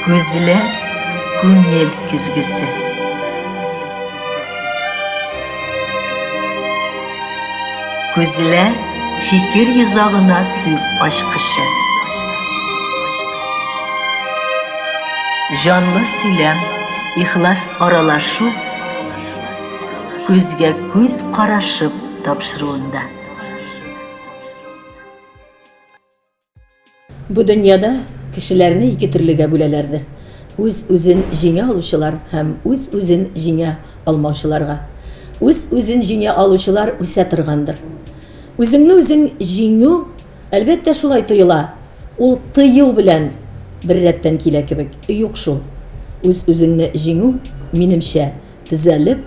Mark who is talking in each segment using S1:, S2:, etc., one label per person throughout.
S1: Күзләр күңел көзгесе. Күзләр фикер йозагына сүз ачкычы. Җанлы сөйләм, ихлас аралашу күзгә күз карашып тапшыруында.
S2: Бу дөньяда кешеләрне ике төрлегә бүләләрдер, үз-үзен җиңә алучылар һәм үз-үзен җиңә алмаучыларга. Үз-үзен җиңә алучылар үсә торгандыр. Үзеңне үзең җиңү, әлбәттә, шулай тоела, ул тыю белән беррәттән килә кебек. Юк шул. Үз-үзеңне җиңү, минемчә, Төзәлеп,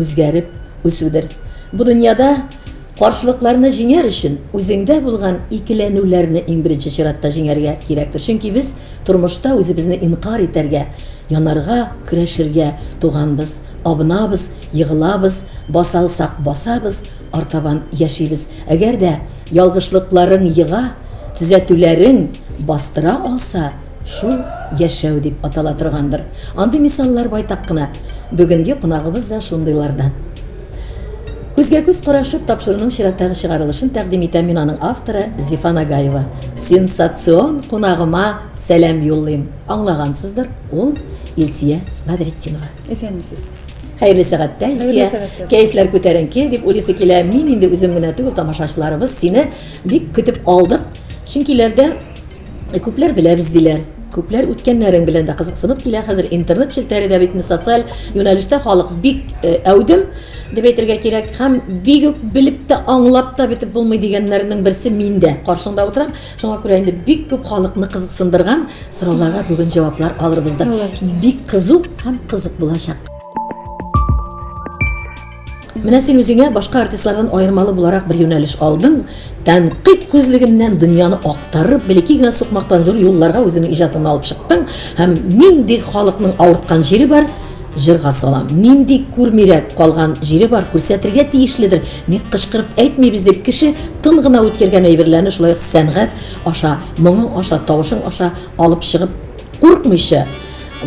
S2: үзгәреп үсүдер. Бу дөньяда каршылыкларны җиңәр өчен үзеңдә булган икеләнүләрне иң беренче чиратта җиңәргә кирәктер. Чөнки без тормышта үзебезне инкарь итәргә, янарга, көрәшергә туганбыз. Абынабыз, егылабыз, баса алсак басабыз, артабан яшибез. Әгәр дә ялгышлыкларың ега, төзәтүләрең бастыра алса, Шул яшәү дип атала торгандыр. Андый мисаллар байтак кына. Бүгенге кунагыбыз да шундыйлардан. Күзгә-күз карашып тапшыруның чираттагы чыгарылышын тәкъдим итәм мин аның авторы Зифа Нагаева. Сенсацион кунагыма сәлам юллыйм. Аңлагансыздыр, ул Илсия Бадретдинова. Исәнмесез.
S3: Хәерле сәгатьтә,
S2: Илсия. Хәерле сәгатьтә. Кәефләр күтәренке дип уйлыйсы килә. Мин инде үзем генә түгел, тамашачыларыбыз сине бик көтеп алдык. Чөнки ләрдә Э, күпләр беләбез диләр күпләр үткәннәрең белән дә кызыксынып килә хәзер интернет челтәре дә бит социаль юнәлештә халык бик э, әүдем дип әйтергә кирәк һәм бик үк белеп тә аңлап та бетеп булмый дигәннәрнең берсе мин дә каршыңда утырам шуңа күрә инде бик күп халыкны кызыксындырган сорауларга бүген җаваплар алырбыз да бик кызу һәм кызык булачак Менә син үзеңә башка артистлардан аермалы буларак бер юнәлеш алдың. Тәнкыйть күзлегеннән дөньяны актарып, белеки генә сукмактан зур юлларга үзеңнең иҗатыңны алып чыктың һәм нинди халыкның авырткан җире бар, җырга салам. Нинди күрмирәк калган җире бар, күрсәтергә тиешледер. Ник кычкырып әйтмибез дип кеше тын гына үткәргән әйберләрне шулай ук сәнгать аша, моңың аша, тавышың аша алып чыгып, куркмыйча,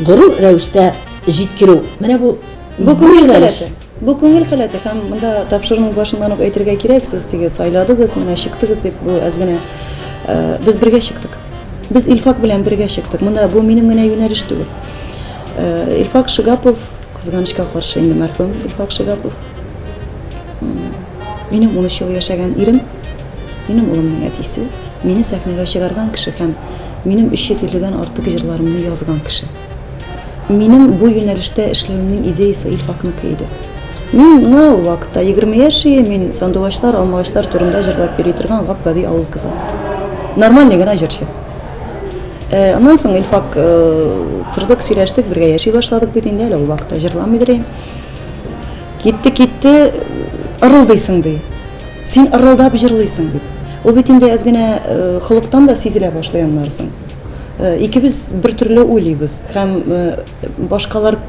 S2: горур рәвештә җиткерү. Менә бу Бу күңел хәләте.
S3: Бу күңел хәләте һәм монда тапшыруның башыннан ук әйтергә кирәк, сез теге сайладыгыз, менә чыктыгыз дип бу әз генә э, без бергә чыктык. Без Илфак белән бергә чыктык. Монда бу минем генә юнәлеш түгел. Э, Илфак Шигапов, кызганычка каршы инде мәрхүм Илфак Шигапов. Минем 13 ел яшәгән ирем, минем улымның әтисе, мине сәхнәгә чыгарган кеше һәм минем 350 дән артык җырларымны язган кеше. Минем бу юнәлештә эшләвемнең идеясы Илфакныкы иде. Миңа ул вакытта 20 яшь иде, мин сандугачлар, алмагачлар турында җырлап йөри торган гап гади авыл кызы. Нормальный гына җырчы. Э, аннан соң Илфак э, тордык, сөйләштек, бергә яши башладык бит инде, әле ул вакытта җырламыйдыр инде. Китте, китте, ырылдыйсың ди. Син ырылдап җырлыйсың дип. Ул бит инде әз генә э, холыктан да сизелә башлый аннарсын. Э, икебез бер төрле уйлыйбыз һәм э, башкалар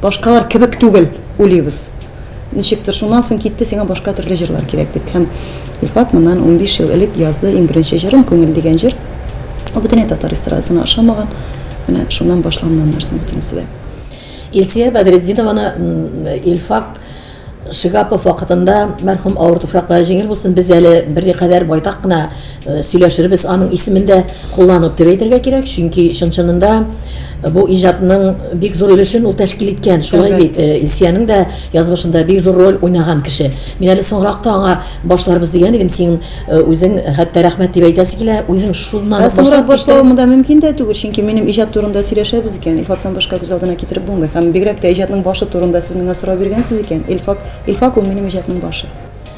S3: башкалар кебек түгел уйлыйбыз ничектер шуннан соң китте сиңа башка төрле җырлар кирәк дип һәм илфат моннан 15 ел элек язды иң беренче җырым күңел дигән җыр ул бөтенләй татар эстрадасына ошамаган менә шуннан башланган нәрсә бөтенесе дә Илсия
S2: Бәдретдинованы Илфак Шигапов вакытында мәрхүм авыр туфраклары җиңел булсын, без әле берникадәр байтак кына э, сөйләшербез аның исемендә кулланып дип әйтергә кирәк, чөнки чын-чынында э, бу иҗатның бик зур өлешен ул тәшкил иткән. Шулай бит, э, Илсиянең дә язмышында бик зур роль уйнаган кеше. Мин әле соңракта аңа башларбыз дигән идем, син Э, үзең э, хәтта рәхмәт дип әйтәсе килә, үзең шуннан ә соңрак башлавым да
S3: мөмкин дә түгел, чөнки минем иҗат турында сөйләшәбез икән, Илфактан башка күз алдына китереп булмый. Һәм бигрәк тә иҗатның башы турында сез миңа сорау биргәнсез икән, Илфак, Илфак ул минем иҗатның башы.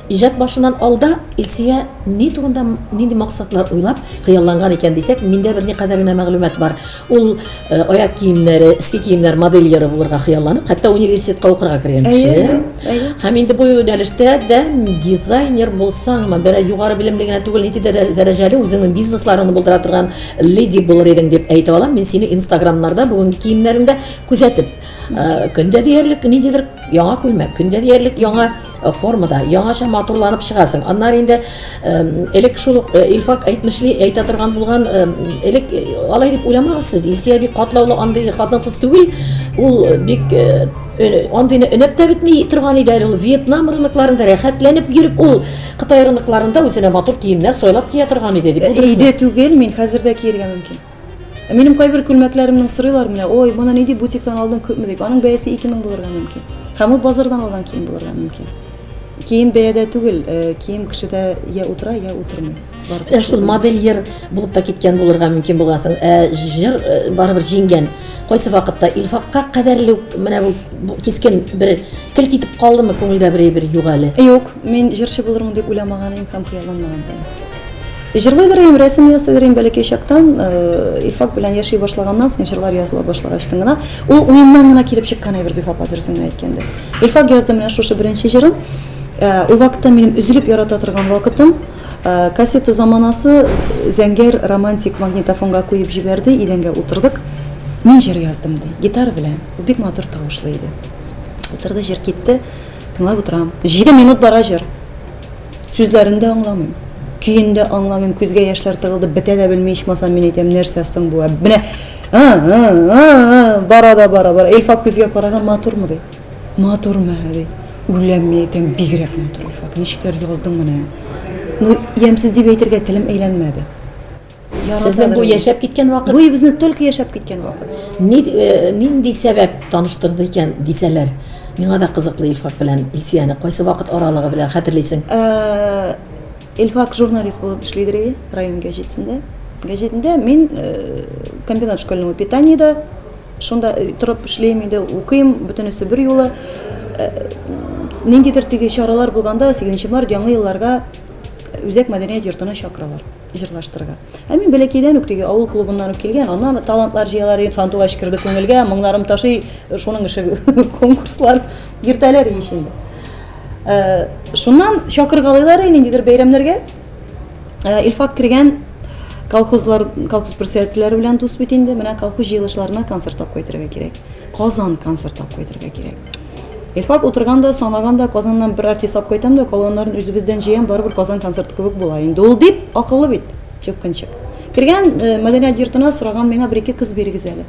S3: Иҗат башыннан
S2: алда Илсия ни турында нинди максатлар уйлап хыялланган икән дисәк, миндә берникадәр генә мәгълүмат бар. Ул э, аяк киемнәре, иске киемнәр модельеры булырга хыялланып, хәтта университетка укырга кергән кеше. Һәм инде бу юнәлештә дә дизайнер булсаңмы, берәр югары белемле генә түгел, нинди дәрәҗәле үзеңнең бизнесларыңны булдыра торган леди булыр идең дип әйтә алам. Мин сине Инстаграмнарда бүгенге киемнәреңдә күзәтеп, э, көндә диярлек ниндидер яңа күлмәк, көндә диярлек яңа Э, формада яңаша матурланып чыгасың аннары инде элек шул ук э, илфак әйтмешли әйтә торган булган элек э, алай дип уйламагыз сез илсия бик катлаулы андый хатын кыз түгел ул бик андыйны өнәп тә бетми торган иде әле ул вьетнам рынокларында рәхәтләнеп йөреп ул кытай рынокларында үзенә матур киемнәр сайлап кия торган иде дип өйдә түгел мин
S3: хәзер дә киергә мөмкин Минем кайбер күлмәкләремнең сорыйлар менә, ой, моны ни дип бутиктан алдың күпме дип. Аның бәясе 2000 булырга мөмкин. Һәм ул базардан алган кием булырга мөмкин. Кием бәядә түгел, э, кием кешедә я утыра, я утырмый. Ә шул модельер
S2: булып та киткән булырга мөмкин булгансың. Ә җыр э, барыбер җиңгән. Кайсы вакытта Илфакка кадәрле менә бу кискен бер кел китеп калдымы күңелдә бер бер юк әле. Юк, мин җырчы
S3: булырмын дип уйламаган идем һәм хыялланмаган идем. Җырлыйдыр идем, рәсем ясыйдыр идем бәләкәй чактан. Илфак белән яши башлаганнан соң җырлар языла башлагачтын гына, ул уеннан гына килеп чыккан әйбер Зифа апа дөресен генә әйткәндә. Илфак язды менә шушы беренче җырын. Ул вакытта минем өзелеп ярата торган вакытым. Кассета заманасы Зәңгәр романтик магнитофонга куеп җибәрде, идәнгә утырдык. Мин җыр яздым ди, гитара белән. Ул бик матур тавышлы иде. Утырды, җыр китте. Тыңлап утырам. 7 минут бара җыр. Сүзләрен дә аңламыйм. Көен дә аңламыйм, күзгә яшьләр тыгылды, бетә дә белми, ичмасам мин әйтәм, нәрсә соң бу? Ә менә бара да бара, бара. Илфак күзгә караган, матурмы ди? Матурмы, ди. Үләм, мин әйтәм, бигрәк матур Илфак. Ничекләр яздың менә? Ну, ямьсез дип әйтергә телем әйләнмәде.
S2: Сезнең бу яшәп киткән вакыт? Бу безнең только яшәп
S3: киткән вакыт. Ни, э, нинди
S2: сәбәп таныштырды икән дисәләр? Миңа да кызыклы Илфак белән Исияне кайсы вакыт аралыгы белән хәтерлисең? Э,
S3: Илфак журналист булып эшлидер иде район газетасында. Газетында мин э, комбинат школьного питания да шунда э, торып эшлим инде, укыйм, бөтенесе бер юлы. Э, ниндидер теге чаралар булганда 8 март яңа елларга үзәк мәдәният йортына чакыралар. җырлаштырырга. Ә мин бәләкәйдән үк теге авыл клубыннан үк килгән, аннан талантлар җыялар идем, сандугач керде күңелгә, моңнарым ташый, шуның эше конкурслар, йөртәләр ич инде. Э, шуннан чакыргалыйлар ниндидер бәйрәмнәргә. Э, Илфак кергән колхозлар, колхоз председательләре белән дус бит инде, менә колхоз җыелышларына концерт тап кайтырга кирәк. Казан концерт тап кайтырга кирәк. Илфак утырган да, санаган да, Казаннан бер артист алып кайтам да, калганнарын үзебездән җыям, барыбер Казан концерты кебек була инде ул, дип, акыллы бит, чыпкынчык. Кергән э, мәдәният йортына сораган миңа бер-ике кыз бирегез әле.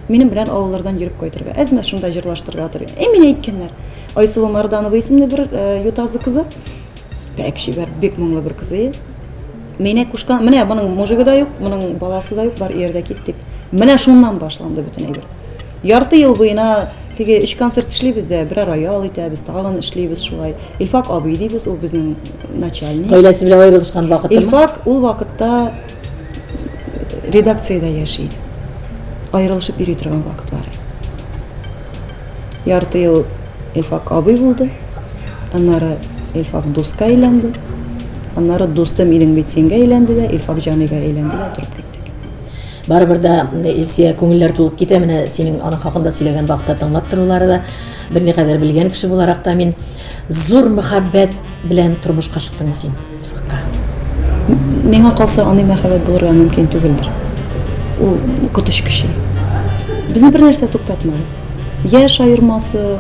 S3: Минем белән авыллардан йөреп кайтырга, әзмә шунда җырлаштырырга тор. Э, мин әйткәннәр. Айсылу Марданова исемле бер э, ютазы кызы. Бәк чибәр, бик моңлы бер кызы. Менә кушкан, менә моның мужигы да юк, моның баласы да юк, бар иярдә кит дип. Менә шуннан башланды бөтен әйбер. Ярты ел буена теге өч концерт эшлибез дә, берәр роял итәбез, тагын эшлибез шулай. Илфак абый дибез, ул безнең начальник. Гаиләсе белән аерылышкан
S2: вакытта. Илфак ул вакытта
S3: редакциядә яши. Аерылышып йөри торган вакытлары. Ярты ел Илфак абый булды. Аннары Илфак дуска әйләнде. Аннары дусты минем бит сингә әйләнде дә, Илфак җаныйга әйләнде дә торып киттек. Барыбер дә
S2: Илсия күңелләр тулып китә. Менә синең аның хакында сөйләгән вакытта тыңлап торулары да берникадәр белгән кеше буларак та мин зур мәхәббәт белән тормышка чыктыңмы син?
S3: Миңа калса, аны мәхәббәт булырга мөмкин түгелдер. Ул котыш кеше. Безне бер нәрсә туктатмады. Яш аермасы,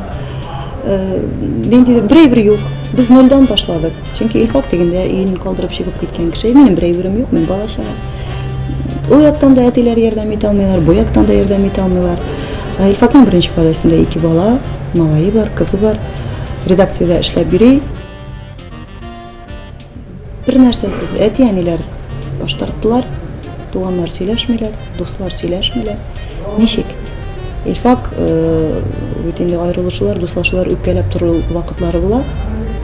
S3: э, нинди берәйбер юк. Без нольдан башладык. Чөнки Илфак дигәндә өен калдырып чыгып киткән кеше. Минем берәйберем юк, мин бала чага. Ул яктан да әтиләр ярдәм итә алмыйлар, бу яктан да ярдәм итә алмыйлар. Э, Илфакның беренче гаиләсендә ике бала, малае бар, кызы бар. Редакциядә эшләп йөри. Бер нәрсәсез әти-әниләр баш тарттылар, туганнар сөйләшмиләр, дуслар сөйләшмиләр. Ничек? Илфак бит инде аерылышулар, дуслашулар үпкәләп тору вакытлары була.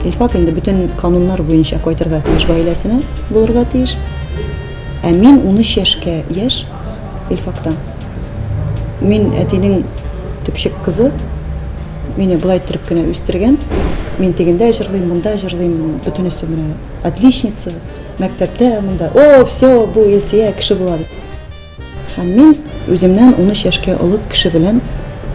S3: Илфак инде бөтен кануннар буенча кайтырга тиеш гаиләсенә, булырга тиеш. Ә мин 13 яшькә яшь Илфакта. Мин әтинең төпчек кызы. Мине былай иттереп кенә үстергән. Мин тегендә җырлыйм, монда җырлыйм, бөтенесе менә отличница, мәктәптә монда. О, все, бу Илсия кеше була дип. Һәм мин үземнән 13 яшькә олы кеше белән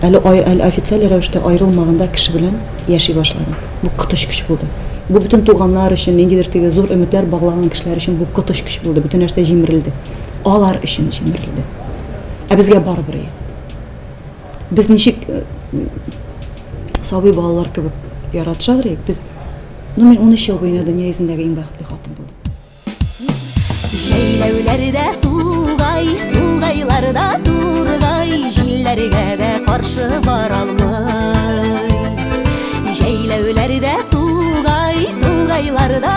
S3: әле әле официаль рәвештә аерылмаганда кеше белән яши башладым. Бу котыч көч булды. Бу бөтен туганнар өчен, ниндидер теге зур өметләр баглаган кешеләр өчен бу котыч көч булды. Бөтен нәрсә җимерелде. Алар өчен җимерелде. Ә безгә барыбер ие. Без ничек э, сабый балалар кебек яратышабыз ие. Без ну мин 13 ел буена дөнья йөзендәге иң бәхетле хатын булдым.
S4: Җәйләүләрдә тугай, тугайларда тургай, җилләргә дә каршы бара алмый. Җәйләүләрдә тугай, тугайларда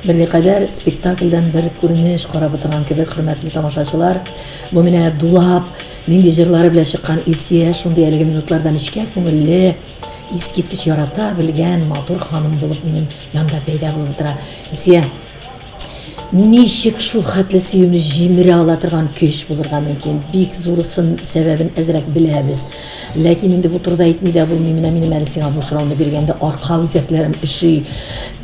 S2: Берникадәр спектакльдән бер күренеш карап утырган кебек, хөрмәтле тамашачылар. Бу менә дулап, нинди җырлары белән чыккан Илсия шундый әлеге минутларда нечкә күңелле, искиткеч ярата белгән матур ханым булып минем янда пәйда булып утыра. Илсия! Ничек шул хәтле сөюне җимерә ала торган көч булырга мөмкин? Бик зурысын, сәбәбен әзрәк беләбез. Ләкин инде бу турыда әйтми дә булмый. Менә минем әле сиңа бу сорауны биргәндә арка үзәкләрем өши.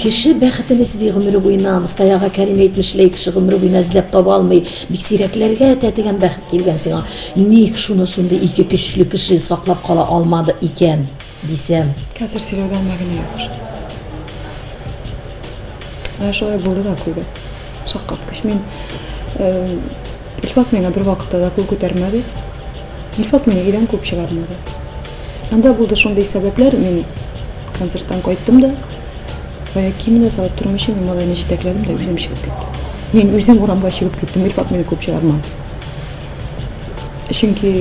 S2: Кеше бәхетен эзли гомере буена. Мостая ага Кәрим әйтмешли, кеше гомере буена эзләп таба алмый. Бик сирәкләргә тәтегән бәхет килгән сиңа. Ник шуны шундый ике көчле кеше саклап кала алмады икән? Дисәм. Хәзер сөйләүдән
S3: мәгънә юк шул. Ә шулай булды да куйды. Шаккаткыч. Мин Илфат миңа бер вакытта да кул күтәрмәде. Илфат мине өйдән куып чыгармады. Анда булды шундый сәбәпләр, мин концерттан кайттым да, бая киемне салып тору өчен мин малайны җитәкләдем дә үзем чыгып киттем. Мин үзем урамга чыгып киттем, Илфат мине куып чыгармады. чөнки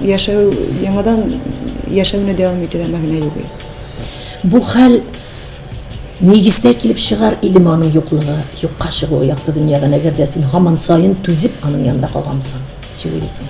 S3: яшәү яңадан яшәүне дәвам итүдә мәгънә юк бу
S2: хәл нигездә килеп чыгар идеме аның юклыгы юкка чыгуы якты дөньядан әгәр дә син һаман саен түзеп аның янында калгансың чыгыйсың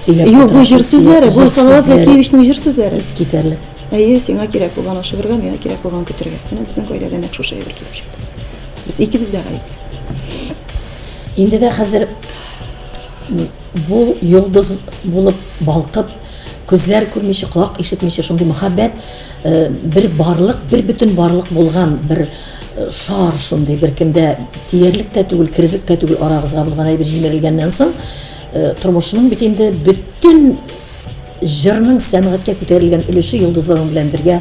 S2: Сөйләп Юк, бу җыр сүзләре,
S3: бу Салават Закиевичның җыр сүзләре. Искитәрлек. Әйе,
S2: сиңа
S3: кирәк булган ашыгырга, миңа кирәк булган көтергә. Менә безнең гаиләдә нәкъ шушы әйбер килеп чыкты. Без икебез дә гаепле.
S2: Инде дә хәзер бу йолдыз булып балкып, күзләр күрмичә, колак ишетмичә шундый мөхәббәт э, бер барлык, бер бөтен барлык булган бер э, шар шундый беркемдә тиярлек тә түгел, керерлек тә түгел арагызга булган әйбер җимерелгәннән соң Тормышының бит инде бөтен җырның сәнгатькә күтәрелгән өлеше йолдызларың белән бергә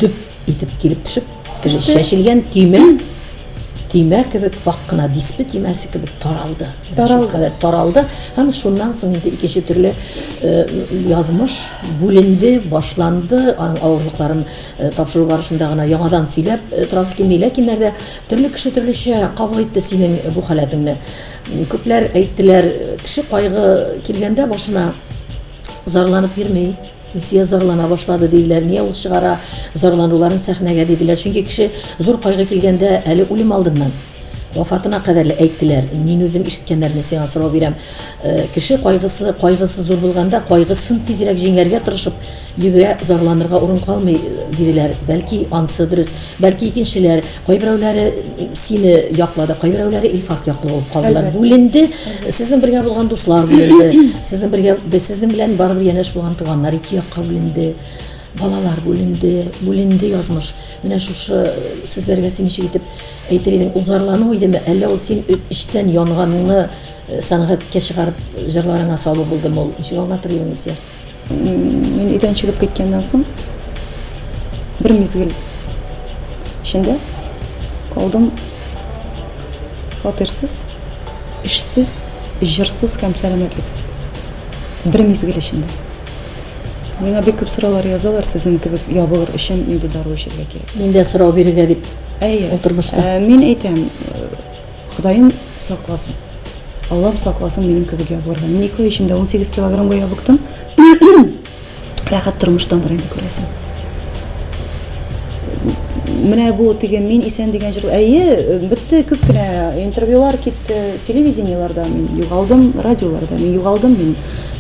S2: дөп итеп килеп төшеп, чәчелгән төймә төймә кебек вак кына диспе төймәсе кебек таралды. Таралды. Таралды. Һәм шуннан соң инде икенче төрле э, язмыш бүленде, башланды. Аның авырлыкларын э, тапшыру барышында гына яңадан сөйләп э, торасы килми. Ләкин нәрдә төрле кеше төрлечә кабул итте синең бу халәтеңне. Күпләр әйттеләр, кеше кайгы килгәндә башына зарланып йөрми. Илсия зарлана башлады диләр. Нигә ул чыгара зарлануларын сәхнәгә диделәр. Чөнки кеше зур кайгы килгәндә әле үлем алдыннан вафатына кадәр әйттеләр. Мин үзем ишеткәннәрне сиңа сорау бирәм. Э, кеше кайгысы, кайгысы зур булганда, кайгысын тизрәк җиңәргә тырышып, йөгерә, зарланырга урын калмый, э, диделәр. Бәлки ансы дөрес, бәлки икенчеләр Кайберәүләре сине яклады, кайберәүләре Илфак яклы булып калдылар. Бүленде, сезнең бергә булган дуслар бүленде, сезнең бергә без сезнең белән барыбер янәш булган туганнар ике якка бүленде. Балалар бүленде, бүленде язмыш. Менә шушы сүзләргә син ничек итеп әйтер идең? Узарлану идеме, әллә ул син эчтән янганыңны сәнгатькә чыгарып җырларыңа салу булдымы ул? Ничек аңлатыр идең, Илсөя? Мин
S3: өйдән чыгып киткәннән соң бер мизгел эчендә калдым фатирсыз, эшсез, җырсыз һәм сәламәтлексез. Бер мизгел эчендә. Миңа бик күп сораулар язалар сезнең кебек ябылыр өчен нинди дару эчәргә кирәк. Мин дә сорау бирергә дип.
S2: Әйе. Утырмышта. Мин әйтәм,
S3: Ходаем сакласын. Аллам сакласын минем кебек ябылырга. Мин ике ай эчендә 18 килограммга ябыктым. Рәхәт тормыштан гына инде күрәсең. Менә бу теге мин исән дигән җыр. Әйе, бетте күп кенә интервьюлар китте, телевидениеләрдә мин югалдым, радиоларда мин югалдым, мин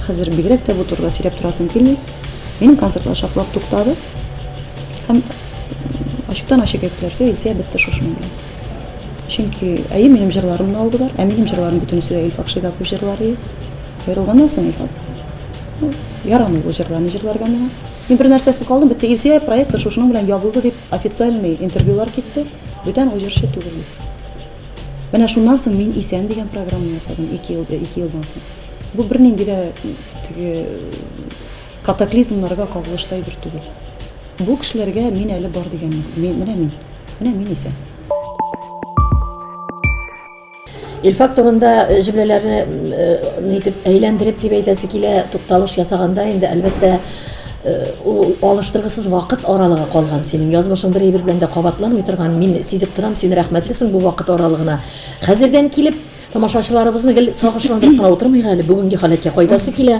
S3: хәзер бигрәк тә бу турыда сөйләп торасым килми. Минем концертлар шартлап туктады. Һәм ачыктан ачык әйттеләр, все, Илсия бетте шушының белән. Чөнки әйе минем җырларымны алдылар, ә минем җырларым бөтенесе дә Илфак Шигапов җырлары. Аерылганнан соң Илфак ну, ярамый бу җырларны җырларга миңа. Мин бер нәрсәсез калдым, бетте Илсөя проекты шушының белән ябылды дип официальный интервьюлар китте. Бүтән ул җырчы түгел. Менә шуннан соң мин исән дигән программа ясадым 2 ел 2 елдан соң. Бу бернинди дә теге Катаклизмнарга кагылышлы әйбер түгел. Бу кешеләргә мин әле бар дигән юк. Мин, менә мин. Менә мин исән.
S2: Илфак турында э, җөмләләрне э, нитеп әйләндереп дип әйтәсе килә, тукталыш ясаганда инде әлбәттә Э, ул алыштыргысыз вакыт аралыгы калган синең язмышың бер әйбер белән дә кабатланмый торган мин сизеп торам син рәхмәтлесең бу вакыт аралыгына хәзердән килеп тамашачыларыбызны гел сагышландырып кына утырмыйк әле бүгенге халәткә кайтасы килә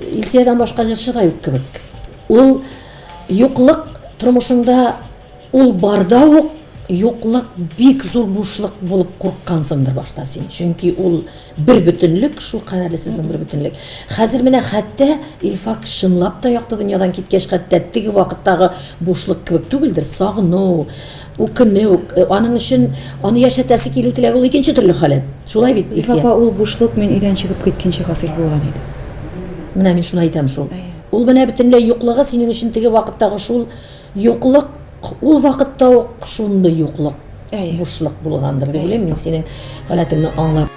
S2: Илсиядән башка җырчы да юк кебек. Ул юклык тормышында ул барда ук юклык бик зур бушлык булып курыккансыңдыр башта син. Чөнки ул бер бөтенлек, шул кадәрле сезнең бер бөтенлек. Хәзер менә хәтта Илфак чынлап та якты дөньядан киткәч, хәтта теге вакыттагы бушлык кебек түгелдер, сагыну, Үкенү, аның өчен аны яшәтәсе килү теләге ул икенче төрле халәт. Шулай бит, Илсөя? Зифа апа, ул бушлык мин
S3: өйдән чыгып киткәнче хасил булган иде. Менә мин
S2: шуны әйтәм шул. Ул менә бөтенләй юклыгы синең өчен теге вакыттагы шул юклык, ул вакытта ук шундый юклык, бушлык булгандыр дип уйлыйм мин синең халәтеңне аңлап.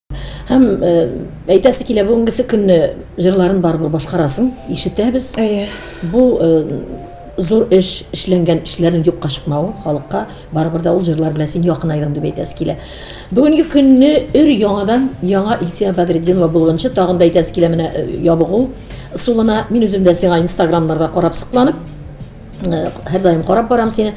S2: Һәм э, әйтәсе килә бүгенгесе көнне җырларын барыбер башкарасын, ишетәбез. Әйе. Бу э, зур эш эшләнгән эшләрнең юкка чыкмавы халыкка барыбер да ул җырлар белән син якын айдың дип әйтәсе килә. Бүгенге көнне өр яңадан яңа Исия Бадретдинова булганчы тагын да әйтәсе килә менә э, ябыгу сулына мин үзем дә сиңа инстаграмнарда карап сокланып Һәрдаим карап барам сине.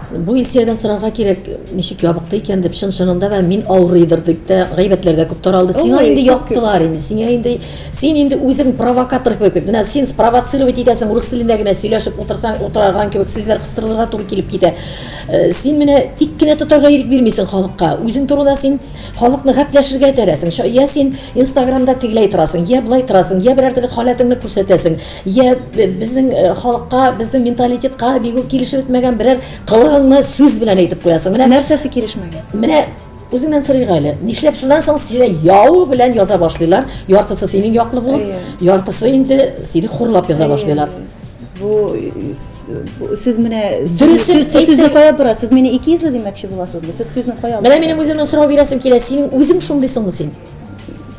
S2: Бу Илсиядән сорарга кирәк, ничек ябыкты икән дип, чын чынында да мин авырыйдыр дип тә, гайбәтләр дә күп таралды. Сиңа инде яптылар инде, сиңа инде син инде үзең провокатор кебек. Менә син спровоцировать итәсең, рус телендә генә сөйләшеп утырсаң, утыраган кебек сүзләр кыстырырга туры килеп китә. Э, син менә тик кенә тотарга ирек бирмисең халыкка. Үзең турында син халыкны гапләшергә этәрәсең. Я син Инстаграмда тегеләй торасың, я былай торасың, я берәр төрле халәтеңне күрсәтәсең. Йә безнең халыкка, безнең менталитетка бик үк килешеп бетмәгән берәр кылыгыңны сүз белән әйтеп куясың. Менә нәрсәсе килешмәгән?
S3: Менә
S2: үзеңнән сорыйк әле. Нишләп шуннан соң сине яу белән яза башлыйлар? Яртысы синең яклы булып, яртысы инде сине хурлап яза башлыйлар. Бу
S3: сез менә сүзне кая борасыз? Сез мине ике йөзле димәкче буласызмы? Сез сүзне кая аласыз? Менә минем үземнең сорау бирәсем
S2: килә. Синең үзең шундыйсыңмы син?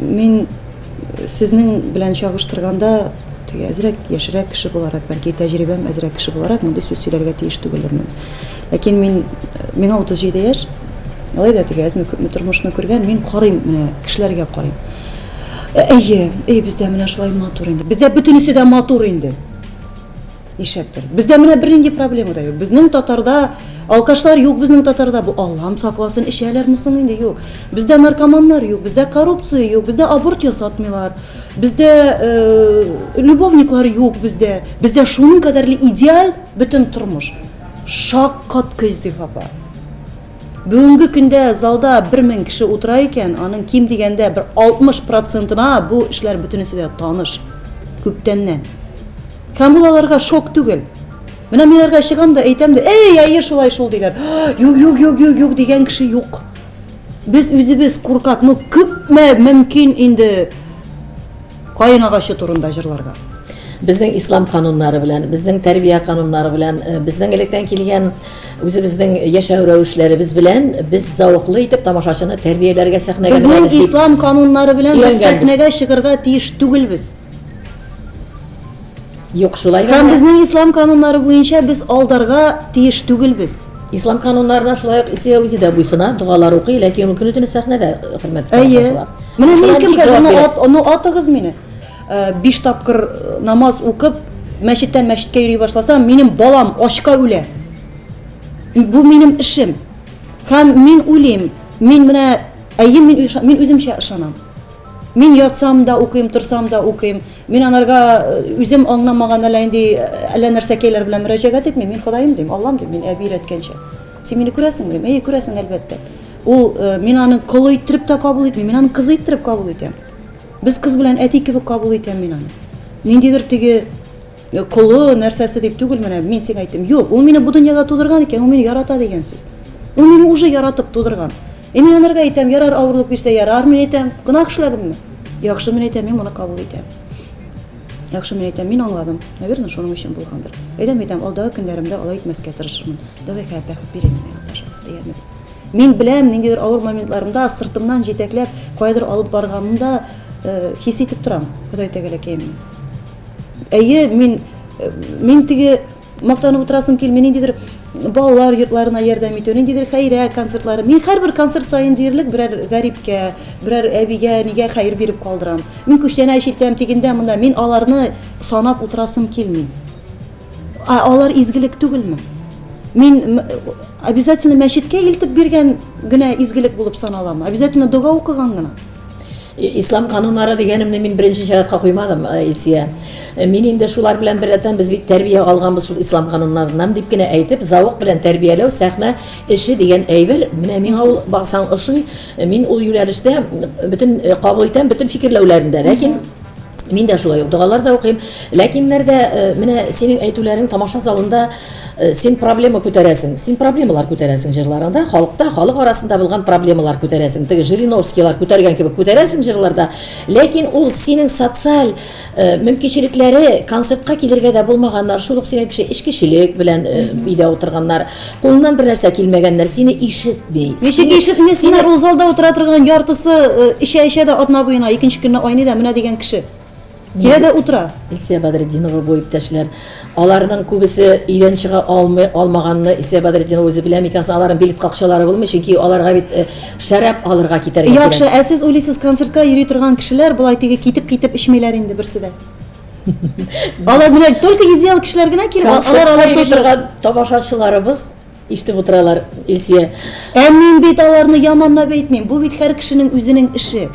S3: Мин сезнең белән чагыштырганда, теге әзрәк, яшьрәк кеше буларак, бәлки тәҗрибәм әзрәк кеше буларак, мондый сүз сөйләргә тиеш түгелермен. Ләкин мин, миңа 37 яшь, алай да теге әзме-күпме тормышны күргән, мин карыйм, менә кешеләргә карыйм. Әйе, әйе, бездә менә шулай матур инде. Бездә бөтенесе дә матур инде. Ишәптер. Бездә менә бернинди проблема да юк. Безнең татарда алкашлар юк, безнең татарда бу Аллам сакласын, ишәләрме соң инде? Юк. Бездә наркоманнар юк, бездә коррупция юк, бездә аборт ясатмыйлар. Бездә э, любовниклар юк бездә. Бездә шуның кадәрле идеаль бөтен тормыш. Шак кат көйзиф апа. Бүгенге көндә залда 1000 кеше утыра икән, аның ким дигәндә бер 60 процентына бу эшләр бөтенесе дә таныш. Күптәннән. Һәм ул аларга шок түгел. Менә мин аларга чыгам да әйтәм дә, әй, әйе, шулай шул диләр. Юк, юк, юк, юк, юк дигән кеше юк. Без үзебез куркак, ну күпме мөмкин инде каен агачы турында җырларга. Безнең
S2: ислам кануннары белән, безнең тәрбия кануннары белән, э, безнең электән килгән үзебезнең яшәү рәвешләребез белән без зауыклы итеп тамашачыны тәрбияләргә сәхнәгә Безнең ислам
S3: кануннары белән без сәхнәгә чыгарга
S2: тиеш
S3: түгелбез.
S2: Юк, шулай гына. Һәм безнең ислам кануннары
S3: буенча без алдарга тиеш түгелбез. Ислам кануннарына
S2: шулай ук Исия үзе дә буйсына, догалар укый, ләкин ул көне-төне сәхнәдә хөрмәт Әйе. Менә
S3: мин
S2: кемгә
S3: аны ат, аны атыгыз
S2: мине.
S3: Э, биш тапкыр э, намаз укып, мәчеттән мәчеткә йөри башласам, минем балам ачка үлә. Бу минем эшем. Һәм мин уйлыйм, мин менә әйе мин мин үземчә ышанам. Мин ятсам да укыйм, торсам да укыйм. Мин анарга үзем аңламаган әллә инде әллә нәрсә кәйләр белән мөрәҗәгать итмим. Мин Ходаем дим, Аллам дим, мин әби өйрәткәнчә. Син мине күрәсеңме дим. Әйе, күрәсең, әлбәттә. Ул мин аны колы иттереп тә кабул итмим, мин аны кыз иттереп кабул итәм. Без кыз белән әти кебек кабул итәм мин аны. Ниндидер теге Колы, нәрсәсе дип түгел, менә мин сиңа әйттем. Юк, ул мине бу дөньяга тудырган икән, ул мине ярата дигән сүз. Ул мине уже яратып тудырган. Е мин анарга әйтәм, ярар авырлык бирсә, ярар, мин әйтәм, гөнаһ эшләдемме? Яхшы, мин әйтәм, мин моны кабул итәм. Яхшы, мин әйтәм, мин аңладым. Наверное, шуның өчен булгандыр. Әйтәм, әйтәм, алдагы көннәремдә алай итмәскә тырышырмын. Давай хәят бәхет бирә миңа, пожалуйста, дигәнмен. Мин беләм, ниндидер авыр моментларымда сыртымнан җитәкләп, каядыр алып барганымда э, хис итеп торам, Ходай тәгәләкәем. Әйе, мин мин теге мактанып утырасым килми, ниндидер балалар йортларына ярдәм итү, ниндидер хәйрә концертлары. Мин һәрбер концерт саен диярлек берәр гәрибкә, берәр әбигә, нигә хәер биреп калдырам. Мин күчтәнә чиртәм тигендә монда, мин аларны санап утырасым килми. А алар изгелек түгелме? Мин обязательно мәчеткә илтеп биргән генә изгелек булып саналамы? Обязательно дога укыган гына? Ислам
S2: кануннары дигәнемне мин беренче чиратка куймадым, Исия. Мин инде шулар белән беррәттән без бит тәрбия алганбыз шул ислам кануннарыннан дип кенә әйтеп, зауык белән тәрбияләү сәхнә эше дигән әйбер, менә миңа ул баксаң ошый. Мин ул юнәлештә бөтен кабул итәм, бөтен фикерләүләрендә, ләкин Мин дә шулай ук догалар да укыйм. Ләкиннәр дә менә синең әйтүләрең тамаша залында син проблема күтәрәсең. Син проблемалар күтәрәсең җырларыңда, халыкта, халык арасында булган проблемалар күтәрәсең. Теге Жириновскийлар күтәргән кебек күтәрәсең җырларда. Ләкин ул синең социаль мөмкинчелекләре, концертка килергә дә булмаганнар, шул ук синең кеше эчкечелек белән өйдә утырганнар. Кулыннан бер нәрсә килмәгәннәр, сине ишетми. Ничек ишетми? Сине
S3: ул залда утыра торган яртысы эчә-эчә дә атна буена, икенче көнне айный да, менә дигән кеше. Килә дә утыра. Илсөя Бадретдинова
S2: бу иптәшләр. Аларның күбесе өйдән чыга алмый, алмаганны Илсөя Бадретдинова үзе белә микән соң? Аларның билет какчалары булмый, чөнки аларга бит шәраб алырга китәргә кирәк. Яхшы, ә сез уйлыйсыз,
S3: концертка йөри торган кешеләр болай теге китеп-китеп эчмиләр инде берсе дә? Алар менә только идеал кешеләр генә килеп, алар алар торган
S2: тамашачыларыбыз ишетеп утыралар, Илсия. Ә мин бит
S3: аларны яманлап әйтмим. Бу бит һәр кешенең үзенең эше.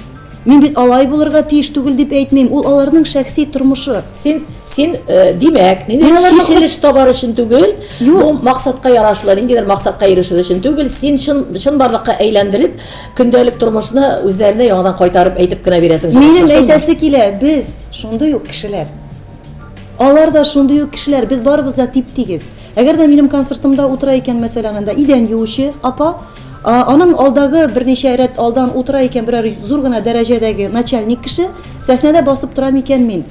S3: Мин бит алай булырга тиеш түгел дип әйтмим. Ул аларның шәхси тормышы. Син син э,
S2: димәк, нинди шешелеш табар өчен түгел, бу максатка ярашлы, ниндидер максатка ирешер өчен түгел, син чын чын барлыкка әйләндереп, көндәлек тормышны үзләренә яңадан кайтарып әйтеп кенә бирәсең. Минем әйтәсе килә,
S3: без Шундый ук кешеләр. Алар да шундый ук кешеләр, без барыбыз да тип-тигез. Әгәр дә минем концертымда утыра икән, мәсәлән, анда идән юучы апа, аның алдагы берничә рәт алдан утыра икән берәр зур гына дәрәҗәдәге начальник кеше, сәхнәдә басып торам икән мин.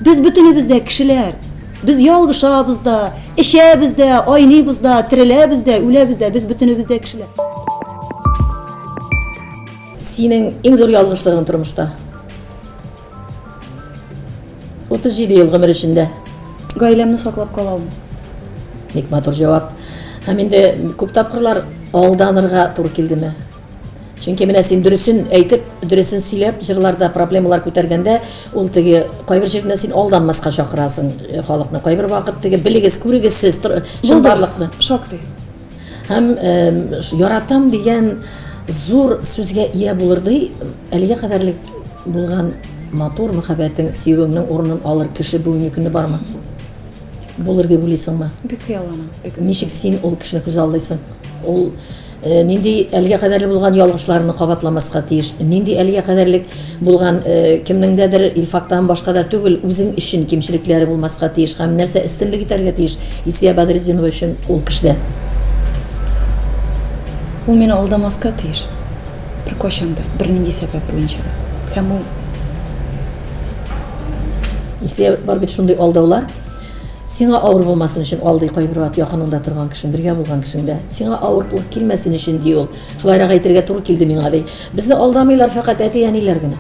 S3: Без бөтенебез дә кешеләр. Без ялгышабыз да, эчәбез дә, айныйбыз да, тереләбез дә, үләбез дә, без бөтенебез дә кешеләр.
S2: Синең иң зур ялгышлыгың тормышта? 37 ел гомер эчендә. Гаиләмне
S3: саклап калам. Бик матур
S2: җавап. Һәм инде күп тапкырлар алданырга туры килдеме? Чөнки менә син дөресен әйтеп, дөресен сөйләп, җырларда проблемалар күтәргәндә, ул теге кайбер җирдә син алданмаска чакырасың э, халыкны. Кайбер вакыт теге белегез, күрегез сез чынбарлыкны. Шактый.
S3: Һәм
S2: яратам дигән зур сүзгә ия булыр ди Әлегә кадәрлек булган матур мәхәббәтең, сөюеңнең урынын алыр кеше бүгенге көне бармы? Булыр дип уйлыйсыңмы? Бик хыялланам. Бик.
S3: Ничек син ул кешене
S2: күз алдыйсың? Ул э, нинди әлегә кадәрле булган ялгышларны кабатламаска тиеш? Нинди әлегә кадәрлек булган э, кемнеңдәдер Илфактан башка да түгел, үзең өчен кимчелекләре булмаска тиеш һәм нәрсә өстенлек итәргә тиеш Исия Бадретдинова өчен ул кешедә?
S3: Ул мине алдамаска тиеш. Беркайчан да, бернинди сәбәп буенча да. Һәм ул
S2: Илсөя, бар бит шундый алдаулар. Сиңа авыр булмасын өчен алдый кайбер вакыт якыныңда торган кешең, бергә булган кешең дә. Сиңа авырлык килмәсен өчен ди ул. Шулайрак әйтергә туры килде миңа ди. Безне алдамыйлар фәкать әти-әниләр генә.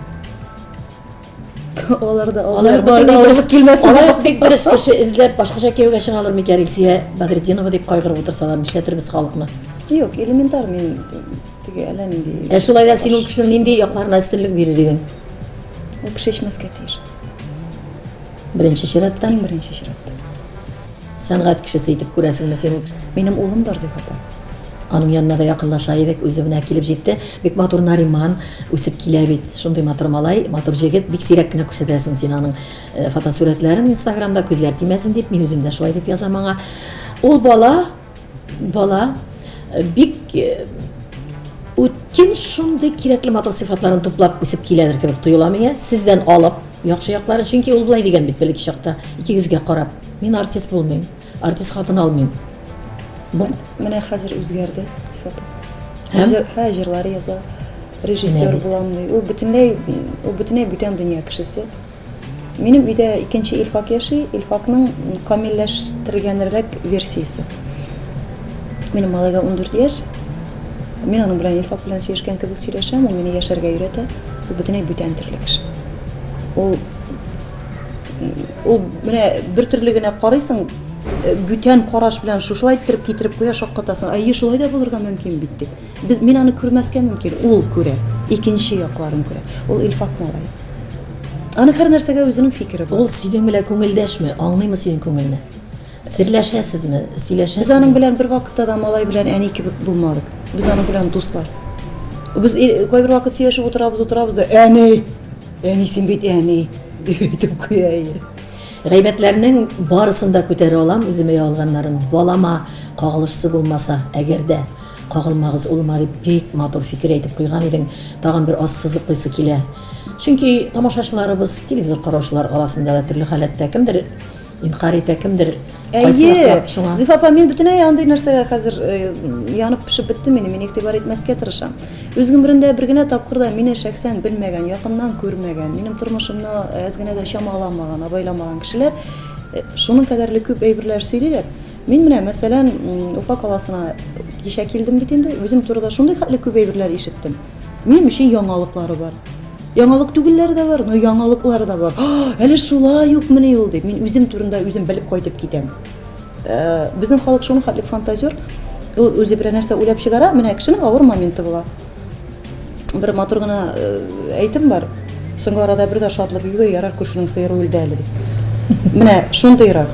S2: Алар
S3: да алар бар алып килмәсен. Алар бик дөрес кеше
S2: эзләп башкача кияүгә чыгалар микән Рисия Багретдинова дип кайгырып утырсалар, нишләтербез халыкны? Юк, элементар
S3: мин теге әллә нинди. Ә шулай да син ул кешенең
S2: нинди якларына өстенлек бирер идең? Ул кеше
S3: эчмәскә тиеш.
S2: Беренче чиратта, иң беренче чиратта.
S3: Сәнгать
S2: кешесе итеп күрәсеңме син? Минем улым бар, Зифата.
S3: Аның янына
S2: да якынлаша идек, үзе менә килеп җитте. Бик матур Нариман үсеп килә бит. Шундый матур малай, матур җегет. Бик сирәк кенә күрсәтәсең син аның э, фотосурәтләрен Инстаграмда, күзләр тимәсен дип, мин үзем дә шулай дип язам аңа. Ул бала, бала э, бик э, үткен шундый кирәкле матур сыйфатларын туплап үсеп киләдер кебек тоела миңа. Сездән алып, яхшы якларын, чөнки ул болай дигән бит бер чакта, икегезгә карап. Мин артист булмыйм, артист хатын алмыйм. Бу
S3: менә хәзер үзгәрде сифаты. Һәм
S2: һә җырлар яза,
S3: режиссер булам ди. Ул бөтенләй ул бөтенләй бүтән дөнья кешесе. Минем өйдә икенче Илфак яши, Илфакның камилләштергәнрәк версиясе. Минем малайга 14 яшь. Мин аның белән Илфак белән сөйләшкән кебек сөйләшәм, ул мине яшәргә өйрәтә. Ул бөтенләй бүтән төрле кеше. Ул Ул менә бер төрле генә карыйсың, э, бүтән караш белән шушылай иттереп китереп куя, шаккатасың. Әйе, шулай да булырга мөмкин бит дип. Без мин аны күрмәскә мөмкин, ул күрә, икенче якларын күрә. Ул Илфат малай. Аны һәр нәрсәгә үзенең фикере бар. Ул синең белән күңелдәшме?
S2: Аңлыймы синең күңелне? Серләшәсезме? Сөйләшәсезме?
S3: Без аның белән бер
S2: вакытта да
S3: малай белән әни кебек булмадык. Без аның белән дуслар. Без кайбер вакыт сөйләшеп утырабыз, утырабыз да, әни, әни син бит әни, дип әйтеп куя иде. Гайбәтләрнең
S2: барысын да күтәрә алам, үземә ягылганнарын. Балама кагылышсы булмаса, әгәр дә кагылмагыз улыма дип бик матур фикер әйтеп куйган идең. Тагын бер аз сызыклыйсы килә. Чөнки тамашачыларыбыз, телевизор караучылар арасында да төрле халәттә кемдер Инкарь итә кемдер. Әйе,
S3: Зифа апа, мин бөтенләй андый нәрсәгә хәзер э, янып пешеп беттем инде, мин игътибар итмәскә тырышам. Үз гомерендә бер генә тапкыр да мине шәхсән белмәгән, якыннан күрмәгән, минем тормышымны әз генә дә чамаламаган, абайламаган кешеләр э, шуның кадәрле күп әйберләр сөйлиләр. Мин менә, мәсәлән, Уфа каласына кичә килдем бит инде, үзем турыда шундый хәтле күп әйберләр ишеттем. Минем өчен яңалыклары бар. Яңалык түгелләре дә бар, но яңалыклары да бар. Әле шулай ук мени ул дип, мин үзем турында үзем белеп кайтып китәм. Э, безнең халык шуны хәтле фантазер, ул үзе берәр нәрсә уйлап чыгара, менә кешенең авыр моменты була. Бер матур гына э, әйтем бар. Соңгы арада бер дә шатлык югы, ярар күршенең сыеры үлде әле дип. Менә шундыйрак.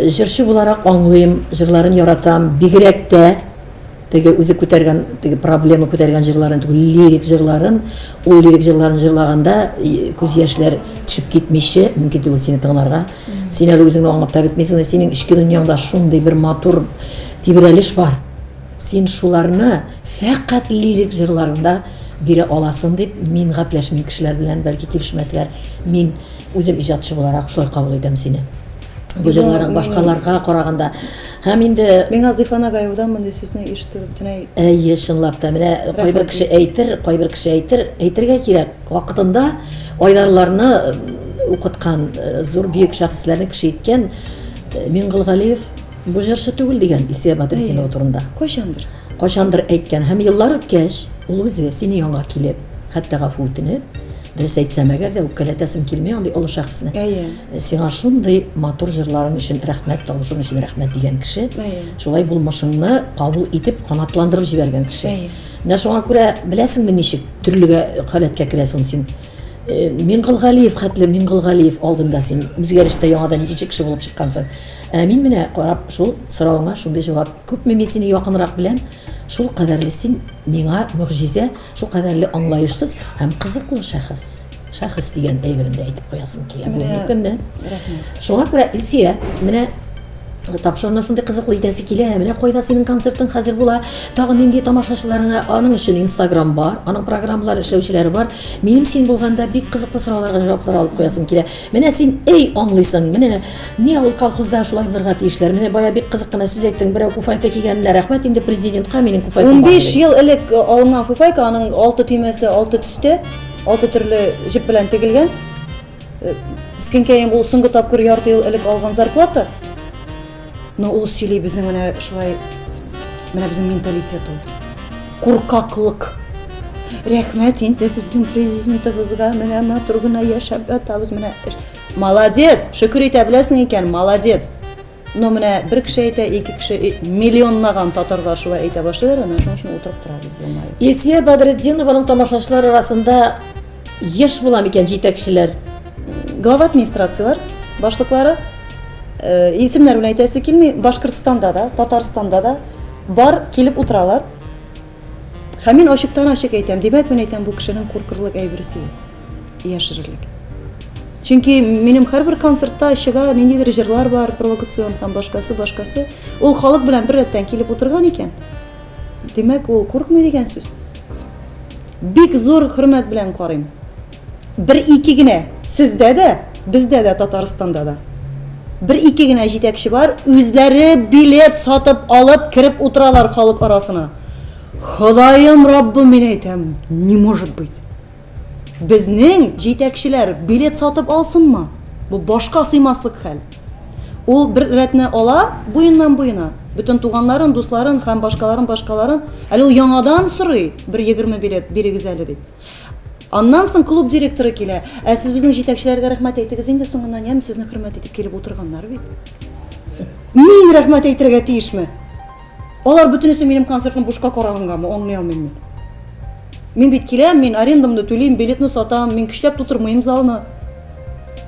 S2: Җырчы буларак аңлыйм, җырларын яратам, бигрәк тә теге үзе күтәргән, теге проблема күтәргән җырларын түгел, лирик җырларын, ул лирик җырларын җырлаганда күз яшьләр төшеп китмичә, мөмкин түгел сине тыңларга. Син әле үзеңне аңлап та бетмисең, синең эчке дөньяңда шундый бер матур тибрәлеш бар. Син шуларны фәкать лирик җырларында бирә аласың дип, мин гапләшмим кешеләр белән, бәлки килешмәсләр. Мин үзем иҗатчы буларак шулай кабул итәм сине. Гүзәлнарың башкаларга караганда. Һәм инде Миңа Зифа Нагаевадан
S3: мондый сүзне ишетү бөтенләй Әйе, чынлап та.
S2: Менә кайбер кеше әйтер, кайбер кеше әйтер, әйтергә кирәк. Вакытында Айдарларны укыткан, э, зур бөек шәхесләрне кеше иткән э, Миңгылгалиев бу җырчы түгел дигән Исия Бадритдинова турында. Кайчандыр. Кайчандыр әйткән һәм еллар үткәч, ул үзе сине янга килеп, хәтта гафу үтенеп, дөрес әйтсәм әгәр дә үпкәләтәсем килми андый олы шәхесне. Әйе. Сиңа шундый матур җырларың өчен рәхмәт, тавышың өчен рәхмәт дигән кеше, шулай булмышыңны кабул итеп, канатландырып җибәргән кеше. Менә шуңа күрә беләсеңме ничек төрлегә халәткә керәсең син? Э, Мингалгалиев хәтле Мингалгалиев алдында син үзгәрештә яңадан икенче кеше булып чыккансың. Ә мин менә карап шул соравыңа шундый җавап. Күпме мин сине якынрак беләм, шул кадәрле син миңа мөгъҗизә. Шукадәрле аңлаешсыз һәм кызыклы шәхес. Шәхес дигән әйберен дә әйтеп куясым килә бүгенге көнне. Шуңа күрә Илсия, менә тапшыруны шундый кызыклы итәсе килә. Менә кайда синең концертың хәзер була? Тагы нинди тамашачыларыңа? Аның өчен Instagram бар, аның программалар эшләүчеләре бар. Минем син булганда бик кызыклы сорауларга җаваплар алып куясым килә. Менә син, әй, аңлыйсың, менә ни авыл колхозда шулай булырга тиешләр. Менә бая бик кызык кына сүз әйттең, берәү куфайка кигәненә рәхмәт инде президентка, минем куфайкам бар. Унбиш диде. ел элек э,
S3: алынган фуфайка, аның алты төймәсе алты төстә, алты төрле җеп белән тегелгән. Э, Мескенкәем, ул соңгы тапкыр ярты ел элек алган зарплата. Но ул сөйли безнең менә шулай менә безнең менталитет ул куркаклык рәхмәт инде безнең президентыбызга менә матур гына яшәп ятабыз менә молодец шөкер итә беләсең икән молодец но менә бер кеше әйтә ике кеше миллионлаган татарлар шулай әйтә башлыйлар да менә шуның өчен утырып торабыз елмаеп илсия бәдретдинованың
S2: тамашачылар арасында Еш була микән җитәкчеләр, глава
S3: администрацияләр башлыклары э, исемнәр белән әйтәсе килми, Башкортстанда да, Татарстанда да бар килеп утыралар. Һәм мин ачыктан ачык әйтәм, димәк мин әйтәм, бу кешенең куркырлык әйберсе юк. Яшерерлек. Чөнки минем һәрбер концертта чыга ниндидер җырлар бар, провокацион һәм башкасы, башкасы. Ул халык белән бер рәттән килеп утырган икән. Димәк, ул куркмый дигән сүз. Бик зур хөрмәт белән карыйм. Бер ике генә сездә дә, бездә дә Татарстанда да. Бер ике генә җитәкче бар, үзләре билет сатып алып кереп утыралар халык арасына. Ходаем Раббым мин әйтәм, не может быть. Безнең җитәкчеләр билет сатып алсынмы? Бу башка сыймаслык хәл. Ул бер рәтне ала буеннан-буена, бөтен туганнарын, дусларын һәм башкаларын, башкаларын, әле ул яңадан сорый, бер егерме билет бирегез әле дип. Аннан соң клуб директоры килә, ә сез безнең җитәкчеләргә рәхмәт әйтегез инде соңыннан, яме, сезне хөрмәт итеп килеп утырганнар бит. Мин рәхмәт әйтергә тиешме? Алар бөтенесе минем концертны бушка карагангамы, аңлый алмыйм мин. Мин бит киләм, мин арендамны түлим, билетны сатам, мин көчләп тутырмыйм залны.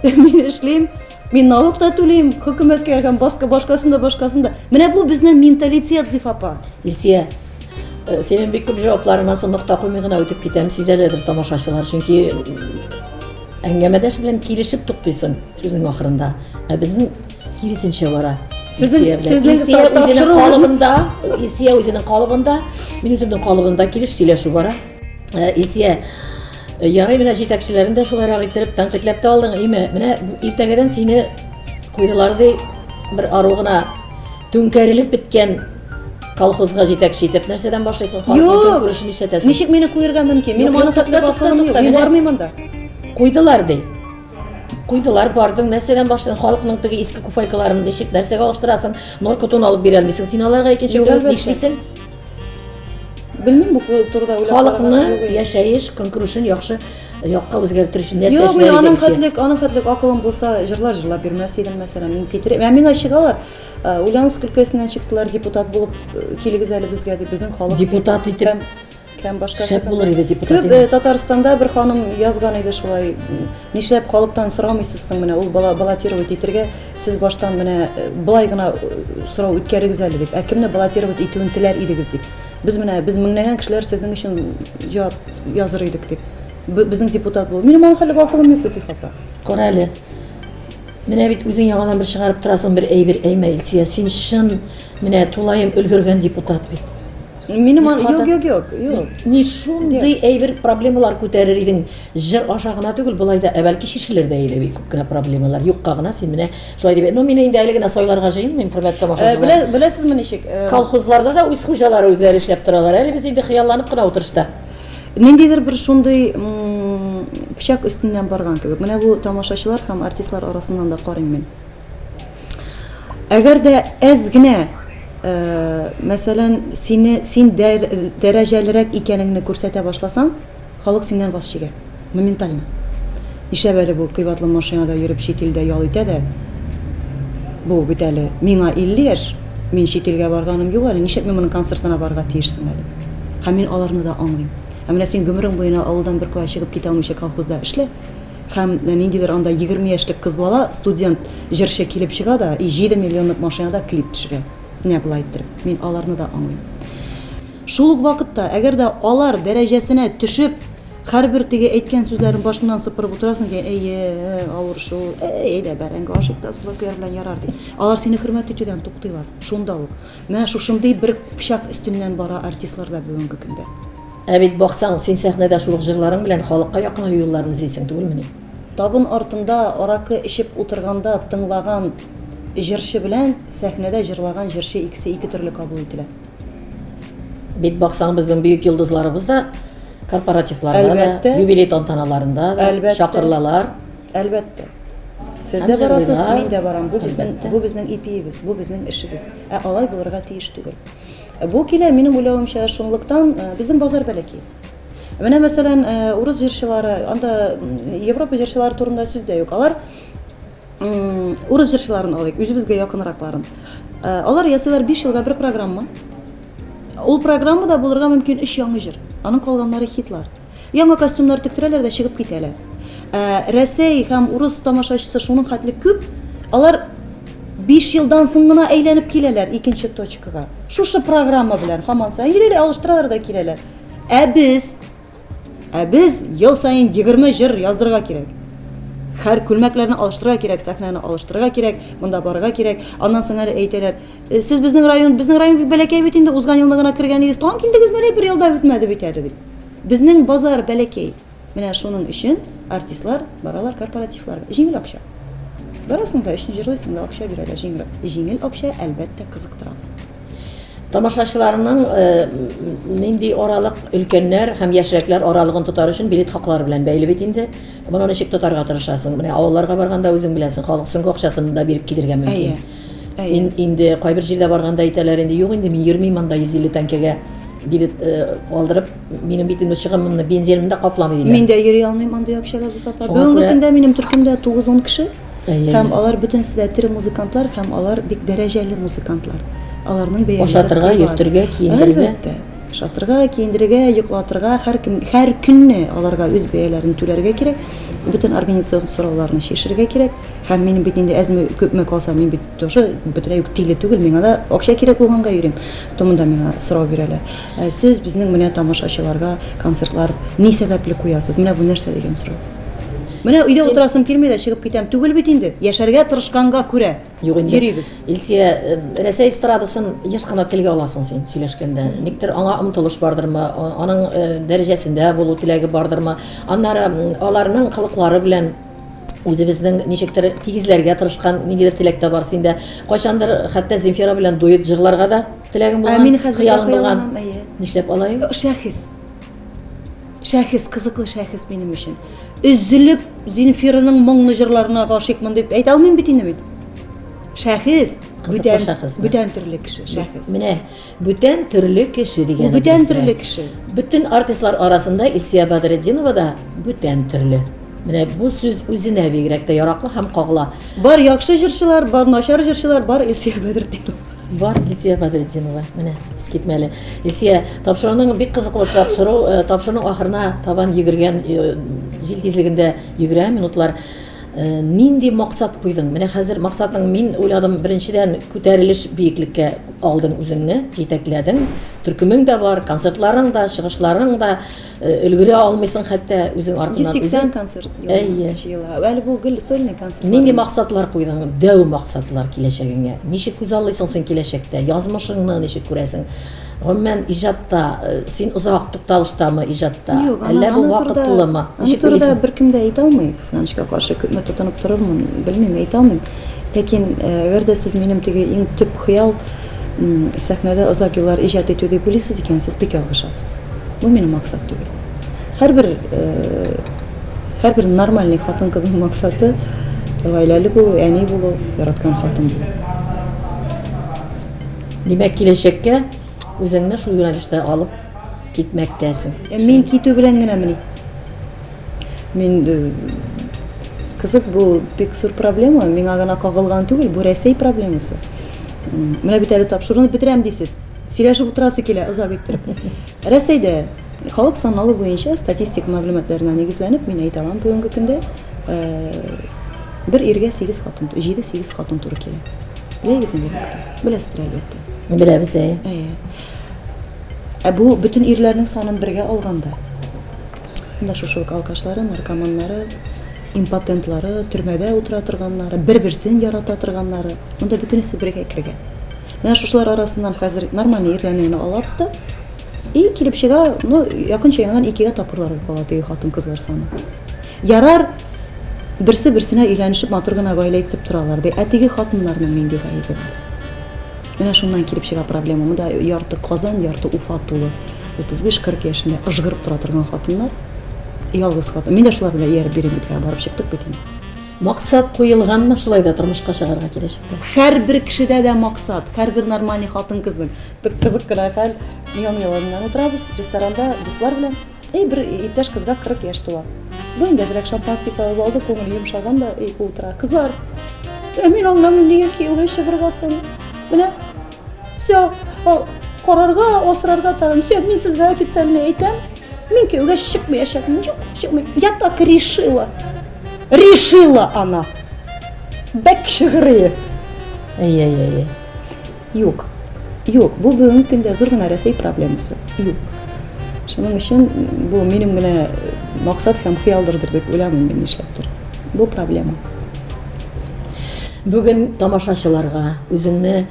S3: Мин эшлим, мин налог та түлим, хөкүмәткә һәм баска башкасында башкасында. Менә бу безнең менталитет зифапа. Исия,
S2: э, синең бик күп җавапларыңа сынлык такуми гына үтеп китәм, сизәләдер тамашачылар, чөнки әңгәмәдәш белән килешеп туктыйсың сүзнең ахырында. Ә безнең Киресенчә бара. Сезнең сезнең үзенең калыбында, Исия үзенең калыбында, мин үземнең калыбында килеш сөйләшү бара. Э, Исия э, ярый менә җитәкчеләрен дә шулайрак иттереп тәнкыйтьләп тә алдың, име? Менә иртәгәдән сине куйдылар ди бер ару гына түңкәрелеп беткән колхозга җитәкче итеп нәрсәдән башлыйсың? Юк, күрешен ишетәсең. Ничек мине куерга мөмкин?
S3: Мин моны хәтле бакылым
S2: юк. Мин
S3: бармыйм анда. Куйдылар
S2: ди.
S3: Куйдылар,
S2: бардың, нәрсәдән башлыйсың? Халыкның теге иске куфайкаларын ничек, нәрсәгә алыштырасың? Норка тон алып бирә алмыйсың. Син аларга икенче Юк, көн әлбәттә. нишлисең?
S3: Белмим бу турыда уйлап Халыкны караган юк. яшәеш
S2: көнкүрешен яхшы якка үзгәртер өчен нәрсә Юк, мин эшләргә аның исә? хәтлек, аның
S3: хәтлек акылым
S2: булса,
S3: җырлар җырлап бирмәс идем, мәсәлән, мин Питер. Ә миңа чыгалар. Ә, Ульяновск өлкәсеннән чыктылар, депутат булып э, килегез әле безгә дип, безнең халык. дип. Депутат итеп. Һәм
S2: Һәм башка
S3: Шәп булыр иде депутат. Төп
S2: э, Татарстанда бер
S3: ханым язган иде шулай. Нишләп халыктан сорамыйсыз соң менә ул бала баллотировать итергә сез баштан менә э, былай гына э, сорау үткәрегез әле дип. Ә кемне баллотировать итүен теләр идегез дип. Без менә без меңләгән кешеләр сезнең өчен җавап языр идек дип. Безнең депутат бул. Минем аңа хәле вакуум юк бит хата. Кара әле.
S2: Менә бит үзең яңадан бер чыгарып торасың бер әйбер әймәй. Син чын менә тулаем өлгергән депутат бит. Минем ан...
S3: Юк, юк, юк,
S2: юк. Ни
S3: шундый
S2: әйбер проблемалар күтәрер идең. Җыр аша гына түгел, былай да әбәлки шешелер дә иде бик күп кенә проблемалар. Юкка гына син менә шулай дип. Ну, мин инде әле генә сайларга җыенмыйм, хөрмәтле тамашачылар. Беләсезме ничек?
S3: Колхозларда да үз
S2: хуҗалары үзләре эшләп торалар. Әле без инде хыялланып кына утырышта. Ниндидер
S3: бер шундый пычак өстеннән барган кебек. Менә бу тамашачылар һәм артистлар арасыннан да карыйм мин. Әгәр дә әз генә, э, мәсәлән, сине син дәр, дәрәҗәлерәк икәнеңне күрсәтә башласаң, халык синнән ваз чигә. Моментально. Нишләп әле бу кыйбатлы машинада йөреп чит илдә ял итә дә? Бу бит әле миңа 50 яшь, мин чит илгә барганым юк әле, нишләп мин моның концертына барырга тиешсең әле? Һәм мин аларны да аңлыйм. Ә менә син гомерең буена авылдан бер кая чыгып китә алмыйча колхозда эшлә. Һәм ниндидер анда егерме яшьлек кыз бала, студент җырчы килеп чыга да, и җиде миллионлык машинада клип төшерә. Менә болай иттереп. Мин аларны да аңлыйм. Шул ук вакытта, әгәр дә алар дәрәҗәсенә төшеп, һәрбер теге әйткән сүзләрен башыннан сыпырып утырасың икән, әйе, авыр шул, әй, әйдә, бәрәңге ашыйк та, сулар көяр белән ярар, дип. Алар сине хөрмәт итүдән туктыйлар. Шунда ук. Менә шушындый бер пычак өстеннән бара артистлар да бүгенге көндә. Ә бит, баксаң,
S2: син сәхнәдә шул ук җырларың белән халыкка якыну юлларын эзлисең түгелмени? Табын артында
S3: аракы эчеп утырганда тыңлаган җырчы белән сәхнәдә җырлаган җырчы икесе ике төрле кабул ителә.
S2: Бит, баксаң, безнең бөек йолдызларыбыз да корпоративларда да, юбилей
S3: тантаналарында
S2: да чакырылалар. Әлбәттә.
S3: Сез
S2: дә барасыз,
S3: мин дә барам. Бу безнең
S2: ипиебез,
S3: бу безнең эшебез. Ә алай булырга тиеш түгел. Бу килә, минем уйлавымча, шунлыктан э, безнең базар бәләкәй. Менә мәсәлән, э, урыс җырчылары, анда Европа җырчылары турында сүз дә юк. Алар урыс җырчыларын алыйк, үзебезгә якынракларын. Э, алар ясыйлар 5 елга бер программа. Ул программада булырга мөмкин 3 яңа җыр. Аның калганнары хитлар. Яңа костюмнар тектерәләр дә чыгып китәләр. Ә Рәсәй һәм урыс тамашачысы шуның хәтле күп, алар 5 елдан соң гына әйләнеп киләләр икенче точкага. Шушы программа белән һаман саен йөриләр, алыштыралар да киләләр. Ә без Ә без ел саен 20 җыр яздырырга кирәк. Хәр күлмәкләрне алыштырырга кирәк, сәхнәне алыштырырга кирәк, монда барырга кирәк. Аннан соң әле әйтәләр, «Э, сез безнең район, безнең район бик бәләкәй бит инде, узган елны гына кергәнегез, тагын килдегез, менә бер елда үтмәде бит әле дип. Безнең базар бәләкәй. Менә шуның өчен артистлар баралар корпоративларга. Җиңел акча. Барасың да, өчен җырлыйсың да, акча бирәләр җиңел. Җиңел акча, әлбәттә, кызыктыра. Тамашачыларның
S2: э, нинди аралык өлкәннәр һәм яшьрәкләр аралыгын тотар өчен билет хаклары белән бәйле бит инде. Моны ничек тотарга тырышасың? Менә авылларга барганда үзең беләсең, халык сүнге акчасын да биреп килергә мөмкин. Син инде кайбер җирдә барганда әйтәләр инде, юк инде мин йөрмим анда 150 тәңкәгә билет э, алдырып, минем бит инде чыгымымны, бензинымны да капламый диләр. Мин дә йөри алмыйм андый
S3: акча Газиз апа. Шуңа Бүгенге күрә- көндә минем
S2: төркемдә
S3: 9-10 кеше. Әйе. Һәм алар
S2: бөтенесе дә
S3: тере музыкантлар һәм алар бик дәрәҗәле музыкантлар. Аларның бәяләре Ашатырга, кыйбат. йөртергә,
S2: киендерергә. Әлбәттә. Ашатырга,
S3: киендерергә, йоклатырга, һәр кем һәр көнне аларга үз бәяләрен түләргә кирәк. Бөтен организацион сорауларны чишергә кирәк. Һәм минем бит инде әзме күпме калса, мин бит тоже бөтенләй үк тиле түгел, миңа да акча кирәк булганга йөрим. Томында миңа сорау бирәләр. Ә сез безнең менә тамашачыларга концертлар ни сәбәпле куясыз? Менә бу нәрсә дигән сорау. Менә өйдә утырасым килми дә чыгып китәм. Түгел бит инде. Яшәргә тырышканга күрә Юк инде. йөрибез.
S2: Илсия, э, Рәсәй эстрадасын еш кына телгә аласың син сөйләшкәндә. Никтер аңа омтылыш бардырмы, а- аның э, дәрәҗәсендә булу теләге бардырмы? Аннары м, аларның кылыклары белән Үзебезнең ничектер тигезләргә тырышкан ниндидер теләк тә бар синдә. Кайчандыр хәтта Земфира белән дуэт җырларга да теләгең Ә булган, мин хәзер дә хыялың булган. хыялланам,
S3: әйе.
S2: Нишләп
S3: алай? Шәхес. Шәхес, кызыклы шәхес
S2: минем
S3: өчен. Өзелеп Земфираның моңлы җырларына гашыйкмын дип әйтә алмыйм бит инде мин. Шәхес, Кызыклы бүтән,
S2: шәхес, да. бүтән төрле кеше,
S3: шәхес. Менә Бүтән
S2: төрле кеше дигән. Бүтән төрле кеше.
S3: Бүтән артистлар
S2: арасында Исия Бадретдинова да бүтән төрле. Менә бу сүз үзенә бигрәк тә яраклы һәм кагыла. Бар яхшы
S3: җырчылар, бар начар җырчылар, бар Исия Бадретдинова. Бар Исия
S2: Бадретдинова. Менә искитмәле. Исия, тапшыруның бик кызыклы тапшыру, э, тапшыруның ахырына табан йөгергән э, җил тизлегендә йөгерә минутлар. Нинди максат куйдың? Менә хәзер максатың, мин уйладым, беренчедән күтәрелеш биеклеккә алдың үзеңне, җитәкләдең. Төркемең дә бар, концертларың да, чыгышларың да, өлгерә алмыйсың хәтта үзең артыннан. 180 концерт
S3: ела.
S2: Әле бу гел
S3: сольный концерт. Нинди максатлар куйдың?
S2: Дәү максатлар киләчәгеңә. Ничек күз аллыйсың син киләчәктә? Язмышыңны ничек күрәсең? Гомумән, иҗатта э, син озак тукталыштамы иҗатта? Әллә бу вакытлымы? Аны турыда беркем
S3: дә әйтә алмый. Кызганычка каршы, күпме тотынып торырмын, белмим, әйтә алмыйм. Ләкин, әгәр дә сез минем теге иң төп хыял, сәхнәдә озак еллар иҗат итү дип уйлыйсыз икән, сез бик ялгышасыз. Бу минем максат түгел. Һәрбер һәрбер нормальный хатын-кызның максаты гаиләле булу, әни булу, яраткан хатын булу.
S2: Димәк, киләчәккә үзеңне шул юнәлештә алып китмәктәсең. Мин китү
S3: белән генәмени? Мин э, кызык бу бик зур проблема, миңа гына кагылган түгел, бу Рәсәй проблемасы. Менә бит әле тапшыруны бетерәм дисез. Сөйләшеп утырасы килә, озак итеп. Рәсәйдә халык саналу буенча статистик мәгълүматларына нигезләнеп мин әйтә алам бүгенге көндә э, бер иргә 8 хатын, 7-8 хатын туры килә. Беләсезме? Беләсездер әлбәттә. Беләбез,
S2: әйе.
S3: Ә бу бөтен ирләрнең санын бергә алганда Менә шушы ук алкашлары, наркоманнары, импотентлары, төрмәдә утыра торганнары, бер-берсен ярата торганнары. Монда бөтенесе бергә кергән. Менә шушылар арасыннан хәзер нормальный ирләрне генә алабыз да. И килеп чыга, ну, якынча яңадан икегә тапкырлар булып кала теге хатын-кызлар саны. Ярар, берсе-берсенә өйләнешеп матур гына гаилә итеп торалар ди. Ә теге хатыннарның нинди гаебе бар? Менә шуннан килеп чыга проблема. Монда ярты Казан, ярты Уфа тулы. 35-40 яшендә ыжгырып тора торган хатыннар, ялгыз хатын. Мин дә шулар белән ияреп йөрим бит, барып чыктык бит инде. Максат
S2: куелганмы шулай да тормышка чыгарга киләчәктә? Һәрбер кешедә
S3: дә максат, һәрбер нормальный хатын-кызның. Бик кызык кына хәл, ян-яланнан утырабыз ресторанда дуслар белән. И бер иптәш кызга 40 яшь тула. Бу инде әзрәк шампанский салып алды, күңел йомшаган да, и утыра. Кызлар, ә мин аңламыйм, нигә кияүгә чыгырга соң? Менә, все, карарга, асрарга тагын, все, мин сезгә официально әйтәм, мин кияүгә чыкмаячакмын, юк, чыкмыйм. Я так решила. Решила она. Бәк шигырие. Әй, әй,
S2: әй.
S3: Юк. Юк, бу бүгенге көндә зур гына Рәсәй проблемасы. Юк. Шуның өчен бу минем генә максат һәм хыялдырдыр дип уйламыйм мин нишләптер. Бу проблема.
S2: Бүген тамашачыларга үзеңне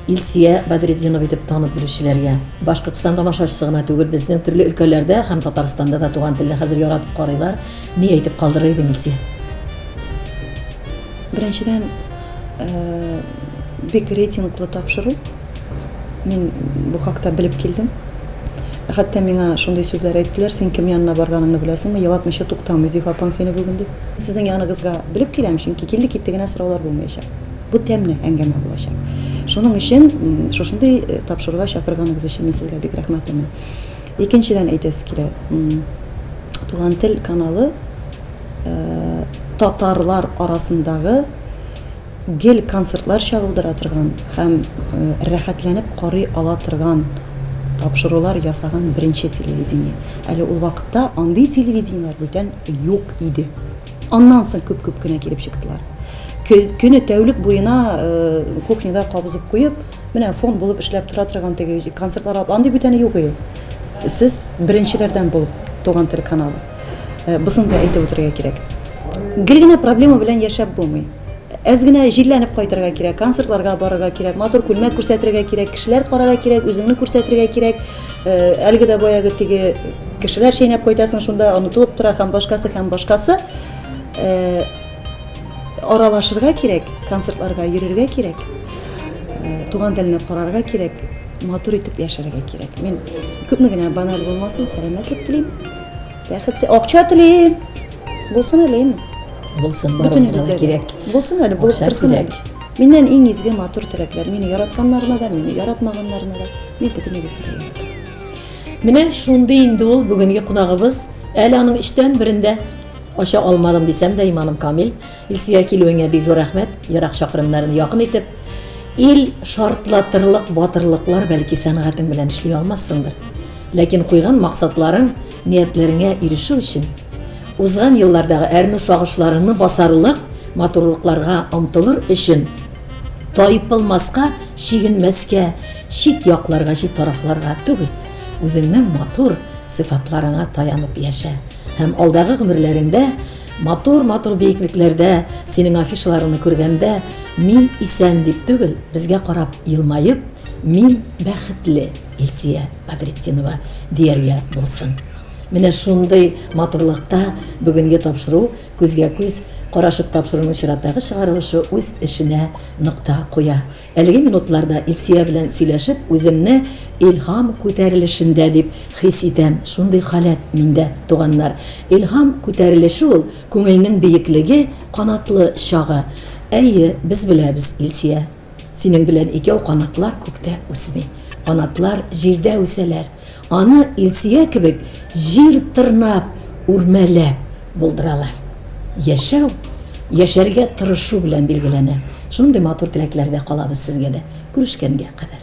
S2: Илсия Бадретдинова итеп танып белүчеләргә, Башкортстан тамашачысы гына түгел, безнең төрле өлкәләрдә һәм Татарстанда да туган телне хәзер яратып карыйлар. Ни әйтеп калдырыр идең, Илсия?
S3: Беренчедән, Бик рейтинглы тапшыру. Мин бу хакта белеп килдем. Хәтта миңа шундый сүзләр әйттеләр, син кем янына барганыңны беләсеңме, елатмыйча туктамый Зифа апаң сине бүген дип. Сезнең яныгызга белеп киләм, чөнки килде китте генә сораулар булмаячак. Бу тәмле әңгәмә булачак. Шуның өчен шушындый э, тапшыруга чакырганыгыз өчен мин сезгә бик рәхмәтлемен. Икенчедән әйтәсе килә. Туган тел каналы э, татарлар арасындагы Гел концертлар чагылдыра торган һәм рәхәтләнеп карый ала торган тапшырулар ясаган беренче телевидение. Әле ул вакытта андый телевидениеләр бүтән юк иде. Аннан соң күп-күп кенә килеп чыктылар. Көне тәүлек буена кухняда кабызып куеп, менә фон булып эшләп тора торган теге концертлар андый бүтәне юк иде. Сез беренчеләрдән булып, Туган тел каналы. Бысын да әйтеп үтәргә кирәк. Гел генә проблема белән яшәп булмый. Әз генә җилләнеп кайтырга кирәк, концертларга барырга кирәк, матур күлмәк күрсәтергә кирәк, кешеләр карарга кирәк, үзеңне күрсәтергә кирәк. Э, әлеге дә баягы теге кешеләр чәйнәп кайтасың шунда, онытылып тора һәм башкасы һәм башкасы. Э, аралашырга кирәк, концертларга йөрергә кирәк, э, туган телне карарга кирәк, матур итеп яшәргә кирәк. Мин күпме генә баналь булмасын, сәламәтлек телим. Бәхет, акча телим. Булсын әле инде. Булсын, барыбызга
S2: да кирәк. Булсын әле, булып торсын
S3: әле. Миннән
S2: иң изге
S3: матур теләкләр. Мине яратканнарына да, мине яратмаганнарына да. Мин бөтенегезне дә яратам. Менә
S2: шундый инде ул бүгенге кунагыбыз. Әле аның өчтән берендә ача алмадым дисәм дә иманым камил. Илсөя килүеңә бик зур рәхмәт. Ерак чакрымнарны якын итеп, ил шартлатырлык батырлыклар бәлки сәнгатең белән эшли алмассыңдыр. Ләкин куйган максатларың, ниятләреңә ирешү өчен, узган еллардагы әрнү сагышларыңны басарлык матурлыкларга омтылыр өчен, тайпылмаска, чигенмәскә, чит якларга, чит тарафларга түгел, үзеңнең матур сыйфатларыңа таянып яшә һәм алдагы гомерләреңдә матур-матур биеклекләрдә синең афишаларыңны күргәндә, мин исән дип түгел, безгә карап елмаеп, мин бәхетле. Илсия Бадретдинова дияргә булсын. Менә шундый матурлыкта бүгенге тапшыру, күзгә-күз карашып тапшыруның чираттагы чыгарылышы үз эшенә нокта куя. Әлеге минутларда Илсия белән сөйләшеп, үземне Илһам күтәрелешендә дип хис итәм. Шундый халәт миндә, туганнар. Илһам күтәрелеше ул, күңелнең биеклеге, канатлы чагы. Әйе, без беләбез, Илсия. Синең белән икәү канатлар күктә үсми, канатлар җирдә үсәләр, аны Илсөя кебек җир тырнап, үрмәләп булдыралар. Яшәү, яшәргә тырышу белән билгеләнә. Шундый матур теләкләрдә калабыз сезгә дә. Күрешкәнгә кадәр.